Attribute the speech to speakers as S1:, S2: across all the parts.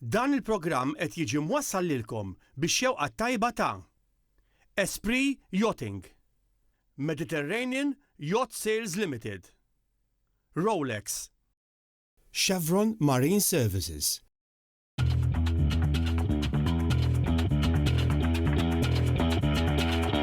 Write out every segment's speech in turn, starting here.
S1: Dan il-programm qed jiġi mwassal lilkom bix-xewqa t-tajba ta' Esprit Yachting, Mediterranean Yacht Sales Limited, Rolex, Chevron Marine Services,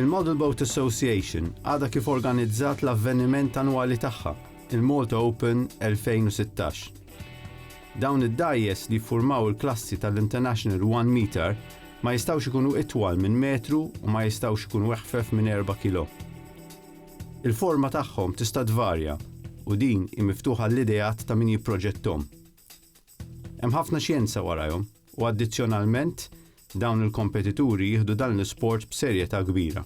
S1: Il-Model Boat Association għadha kif organizzat l-avveniment annwali tagħha, il-Malta Open 2016. Dawn id-dgħajjes li jiffurmaw il-klassi tal-International One Meter ma jistgħux ikunu itwal minn metru u ma jistgħux ikunu eħfef minn erba' kilo. Il-forma tagħhom tista' tvarja u din hi miftuħa għall-ideat ta' min jipproġetthom. Hemm ħafna xjenza warajhom u addizzjonalment dawn il-kompetituri jieħdu dan l-isport b'serjetà kbira.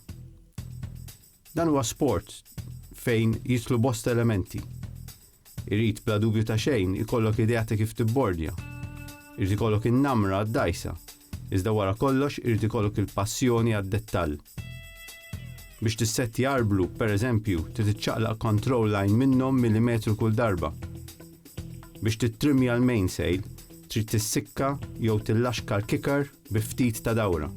S1: Dan huwa sport fejn jidħlu bosta elementi. Irid bla dubju ta' xejn ikollok idea ta' kif tibbordja. Irid ikollok in-namra għad-dgħajsa. Iżda wara kollox irid ikollok il-passjoni għad-dettall. Biex tissettja arblu, pereżempju, trid iċċaqlaq control line minnhom milimetru kull darba. Biex tittrimmja l-mainsail, trid tissikka jew tillaxka l-kicker bi ftit ta' dawra.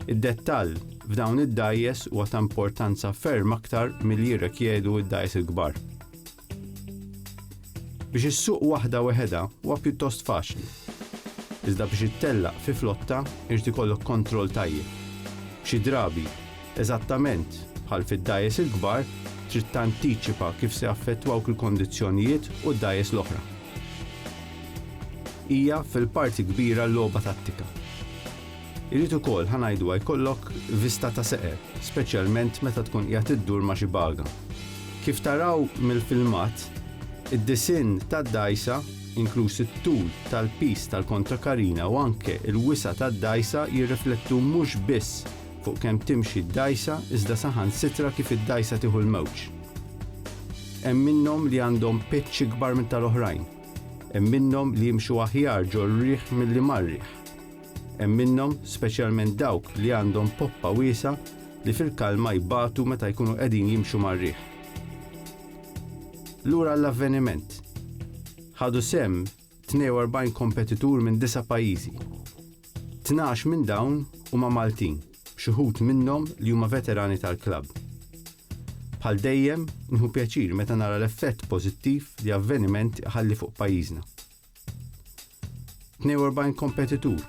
S1: Id-dettall f'dawn id-dgħajjes huwa ta' importanza ferm aktar milli jirrekjedu d-dgħajjes il-kbar. Biex issuq waħda weħedha huwa pjuttost faċli. Iżda biex ittellaq fi flotta irid ikollok kontroll tajjeb. Xi drabi, eżattament bħal fid-dgħajjes il-kbar, trid tantiċipa kif se jaffettwawk il-kondizzjonijiet u d-dgħajjes l-oħra. Hija fil-parti kbira logħba tattika. Irid ukoll ħa ngħiduha jkollok vista ta' seqer, speċjalment meta tkun qiegħed iddur ma' xi baga. Kif taraw mill-filmat, id-disinn tad-dgħajsa, inkluż it-tul tal-piż tal-kontrakarina u anke l-wisa' tad-dgħajsa jirriflettu mhux biss fuq kemm timxi d-dgħajsa iżda saħansitra kif id-dgħajsa tieħu l-mewġ. Hemm minnhom li għandhom pitch ikbar minn tal-oħrajn. Hemm minnhom li jimxu aħjar ġol-riħ milli mar-riħ. Hemm minnhom, speċjalment dawk li għandhom poppa wiesgħa, li fil-kalma jbatu meta jkunu qegħdin jimxu mar-riħ. Lura għall-avveniment. Ħadu sehem 42 kompetitur minn disa' pajjiżi. Tnax minn dawn huma Maltin, b'xi wħud minnhom li huma veterani tal-klabb. Bħal dejjem, nieħu pjaċir meta nara l-effett pożittiv li avveniment iħalli fuq pajjiżna. 42 kompetitur,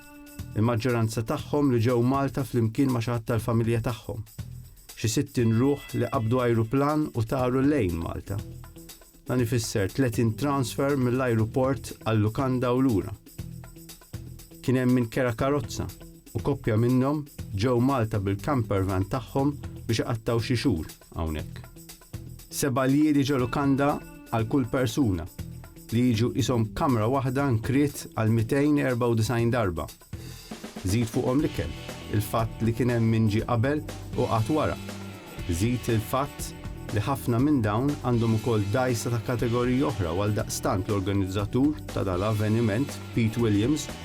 S1: il-maġġoranza tagħhom li ġew Malta flimkien ma' xi ħadd tal-familja tagħhom. Xi 60 ruħ li qabdu ajruplan u taru lejn Malta. Dan ifisser 30 transfer mill-ajruport għal-lukanda u lura. Kien hemm min kera karozza u koppja minnhom ġew Malta bil-campervan tagħhom biex iqattgħu xi xhur hawnhekk. Seba' liri ġo lukanda għal kull persuna, li jiġu qishom kamra waħda nkriet għal 294 darba. Żid fuqhom l-ikel, il-fatt li kien hemm min ġie qabel u qagħad wara. Żid il-fatt li ħafna minn dawn għandhom ukoll dgħajsa ta' kategoriji oħra u għaldaqstant l-organizzatur ta' dal-avveniment, Pete Williams,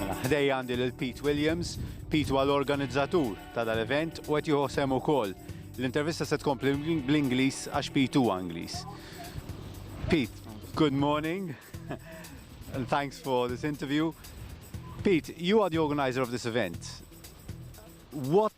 S1: Mela, ħdejja għandi lil Pete Williams. Pete huwa l-organizzatur ta' dal-event u qed jieħu sehem ukoll. L-intervista se tkompli bl-Ingliż għax Pete huwa Ingliż. Pete, good morning and thanks for this interview. Pete, you are the organizer of this event. What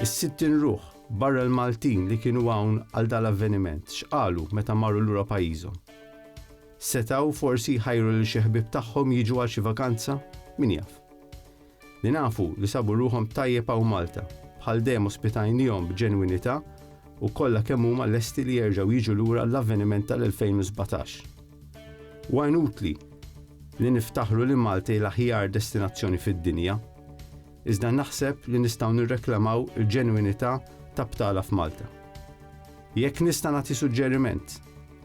S1: Is-sittin ruħ barra l-Maltin li kienu hawn għal dal-avveniment x'qalu meta marru lura pajjiżhom? Setgħu forsi jħajru lil xi ħbieb tagħhom jiġu għal xi vakanza? Min jaf. Li nafu li sabu ruħhom tajjeb hawn Malta, bħal dejjem ospitajnihom b'ġenwinità u kollha kemm huma lesti li jerġgħu jiġu lura għall-avveniment tal-2017. Huwa inutli li niftaħru li Malta hi l-aħjar destinazzjoni fid-dinja. iżda naħseb li nistgħu nirreklamaw il-ġenwinità ta' btala f'Malta. Jekk nista' nagħti suġġeriment,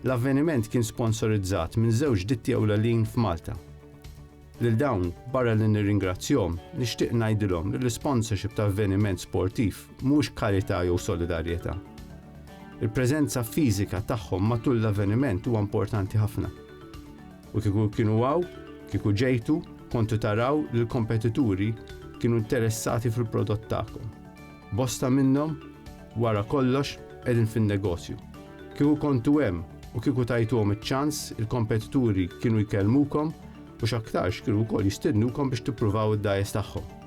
S1: l-avveniment kien sponsorizzat minn żewġ ditti ewlelin f'Malta. Lil dawn, barra li nirringrazzjhom, nixtieq ngħidilhom li l-isponsorship ta' avveniment sportiv mhux karità jew solidarjetà. Il-preżenza fiżika tagħhom matul l-avveniment huwa importanti ħafna. U kieku kienu hawn, kieku ġejtu, kontu taraw li l-kompetituri kienu interessati fil-prodott tagħkom. Bosta minnhom, wara kollox, qegħdin fin-negozju. Kieku kontu hemm u kieku tajtuhom iċ-ċans, il-kompetituri kienu jkellmukom u x'aktarx kienu wkoll jistednukom biex tippruvaw id-dgħajjes tagħhom.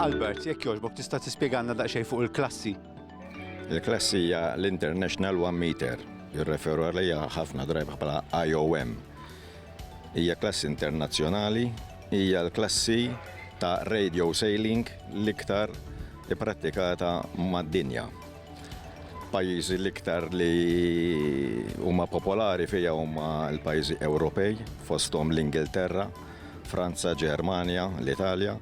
S1: Albert, jekk jogħġbok tista' tispjegalna daqsxejn fuq il-klassi. Il-klassi hija l-International One Meter, jirreferu għalija ħafna drajba bħala IOM. Hija klassi internazzjonali, hija l-klassi ta' radio sailing l-iktar ipprattikata mad-dinja. Pajjiżi l-iktar li huma popolari fija huma l-pajjiżi Ewropej, fosthom l-Ingilterra, Franza, Ġermanja, l-Italja.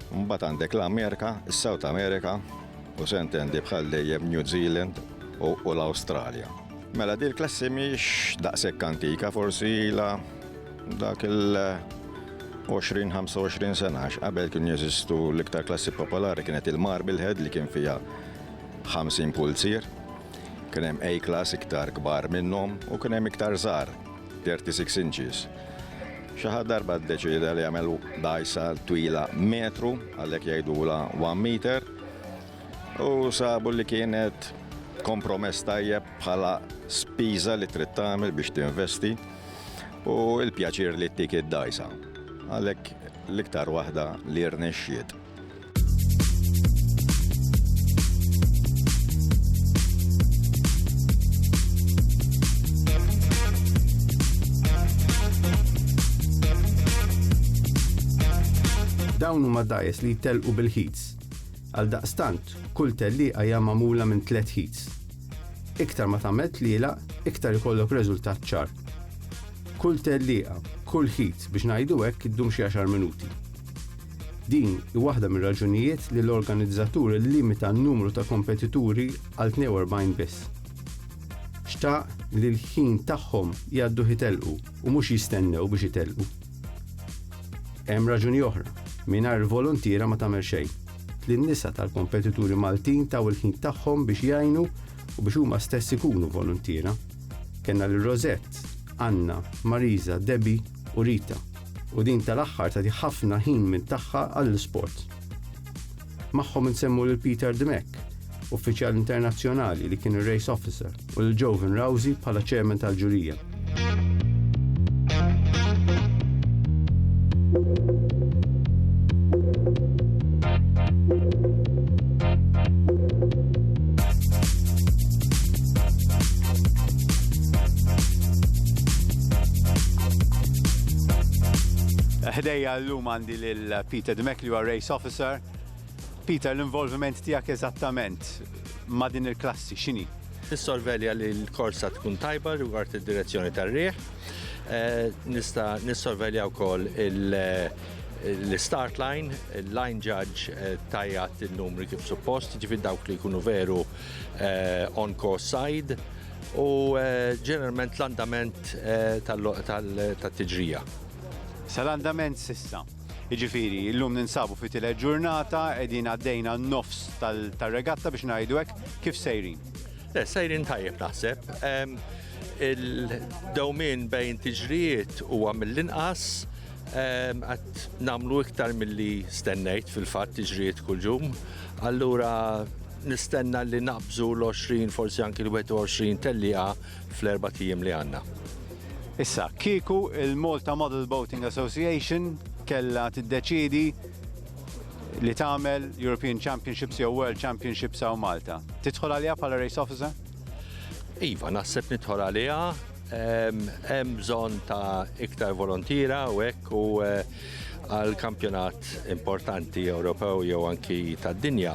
S1: Mbagħad għandek l-Amerika, is-South America, u se ntendi bħal dejjem New Zealand u l-Awstralja. Mela dil klassi mhix daqshekk antika, forsi la Dak il-20-25 sena qabel kien jeżistu l-iktar klassi popolari kienet il-Marble Head li kien fiha 50 pulzier. Kien hemm A-class iktar kbar minnhom u kien hemm iktar żgħar 36 inches. Xi ħadd darba ddeċieda li jagħmel dajsa twila metru għalhekk jgħidula 1 meter u sabu li kienet kompromess tajjeb bħala spiża li trid tagħmel biex tinvesti. u l-pjaċir li ttik id-dajsa. Għalhekk l-iktar waħda li rnexxiet. Dawn huma dajes li jtellqu bil-ħits Għaldaqstant, kull tellieqa hija magħmula minn tliet heats. Iktar ma tagħmel tlielaq, iktar ikollok reżultat ċar. Kull tellieqa, kull heat biex ngħidu hekk iddum xi għaxar minuti. Din hi waħda mir-raġunijiet li l-organizzatur illimita n-numru ta' kompetituri għal 42 biss. Xtaq li l-ħin tagħhom jgħadduh itellqu u mhux jistennew biex itellqu. Hemm raġuni oħra, mingħajr il-voluntiera ma tagħmel xejn. Tliet nisa tal-kompetituri Maltin taw il-ħin tagħhom biex jgħinu u biex huma stess ikunu voluntiera. Kellna lil Rosette, Anna, Marisa, Debbie u Rita, u din tal-aħħar tagħti ħafna ħin minn tagħha għall-isport. Magħhom insemmu lil Peter Dmek, uffiċjal internazzjonali li kien ir-race officer, u lil Jovan Rouzi bħala chairman tal-ġurija. Ħdejja llum għandi lil Peter Dmek li huwa race officer Sir Peter, l-involviment tiegħek eżattament ma' din il-klassi x'inhi? Nissorvelja li l-korsa tkun tajba rigward id-direzzjoni tar-riħ. Nista' nissorvelja wkoll l-start line, il-line judge tajjat in-numri kif suppost, jiġifieri dawk li jkunu veru on course side u ġeneralment l-andament tat-tiġrija. Sa l-andament s'issa? Jiġifieri, illum ninsabu fit-tielet ġurnata, qegħdin għaddejna n-nofs tar-regatta biex ngħidu hekk, kif sejrin? Le, sejrin tajjeb naħseb. Il-dewmien bejn tiġrijiet huwa mill-inqas, qed nagħmlu iktar milli stennejt fil-fatt tiġrijiet kull jum. Allura nistenna li naqbżu l-20 forsi anki l-21 tellieqa fl-erbat ijiem li għandna. Issa, kieku il-Malta Model Boating Association kellha tiddeċiedi li tagħmel European Championships jew World Championships hawn Malta, tidħol għaliha bħala race officer? Iva, naħseb nidħol għaliha, hemm bżonn ta' iktar volontira u hekk u eh, għal kampjonat importanti Ewropew jew anki tad-dinja.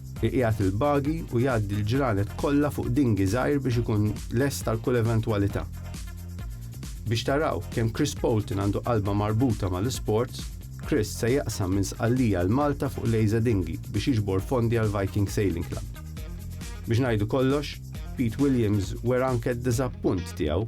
S1: Iqiegħed il-buggy u jgħaddi l-ġranet kollha fuq dinghy żgħir biex ikun lest għal kull eventwalità. Biex taraw kemm Chris Poulton għandu qalba marbuta mal-isports, Chris se jaqsam minn Sqallija għal Malta fuq Lejza Dinghy biex jiġbor fondi għall-Viking Sailing Club. Biex ngħidu kollox, Pete Williams wera anke d-diżappunt tiegħu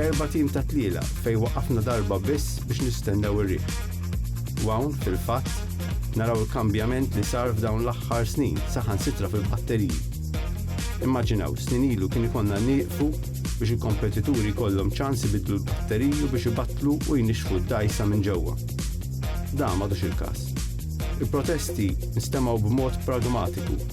S1: Erba' tim ta' tlielaq fejn waqafna darba biss biex nistennew ir-riħ. U hawn, fil-fatt, naraw il-kambjament li sar f'dawn l-aħħar snin, saħansitra fil-batteriji. Immaġinaw, snin ilu kien ikollna nieqfu biex il-kompetituri jkollhom ċans ibiddlu l-batteriji u biex ibattlu u jnixxfu d-dgħajsa minn ġewwa. Dan m'għadux il-każ. Il-protesti nstemaw b'mod pragmatiku.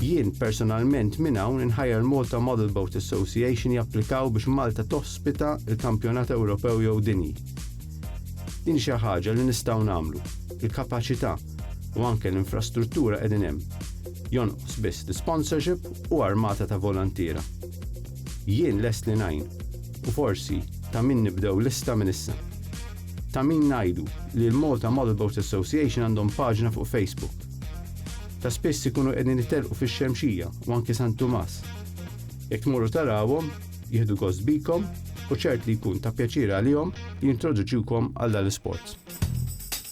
S1: Jien personalment minn hawn inħajjar Malta Model Boat Association japplikaw biex Malta tospita l-Kampjonat Ewropew jew Dinji. Din xi ħaġa li nistgħu nagħmlu. Il-kapaċità u anke l-infrastruttura qegħdin hemm. Jonqos biss l-isponsorship u armata ta' voluntiera. Jien lest li ngħin u forsi ta' min nibdew lista minn issa. Ta' min ngħidu li l-Malta Model Boat Association għandhom paġna fuq Facebook. Ta' spiss ikunu qegħdin itelqu fix-Xemxija u anke San Tumas. Jekk tmorru tarawhom, jieħdu gost bikom u ċert li jkun ta' pjaċir għalihom li jintroduċiwkom għal dal-isport.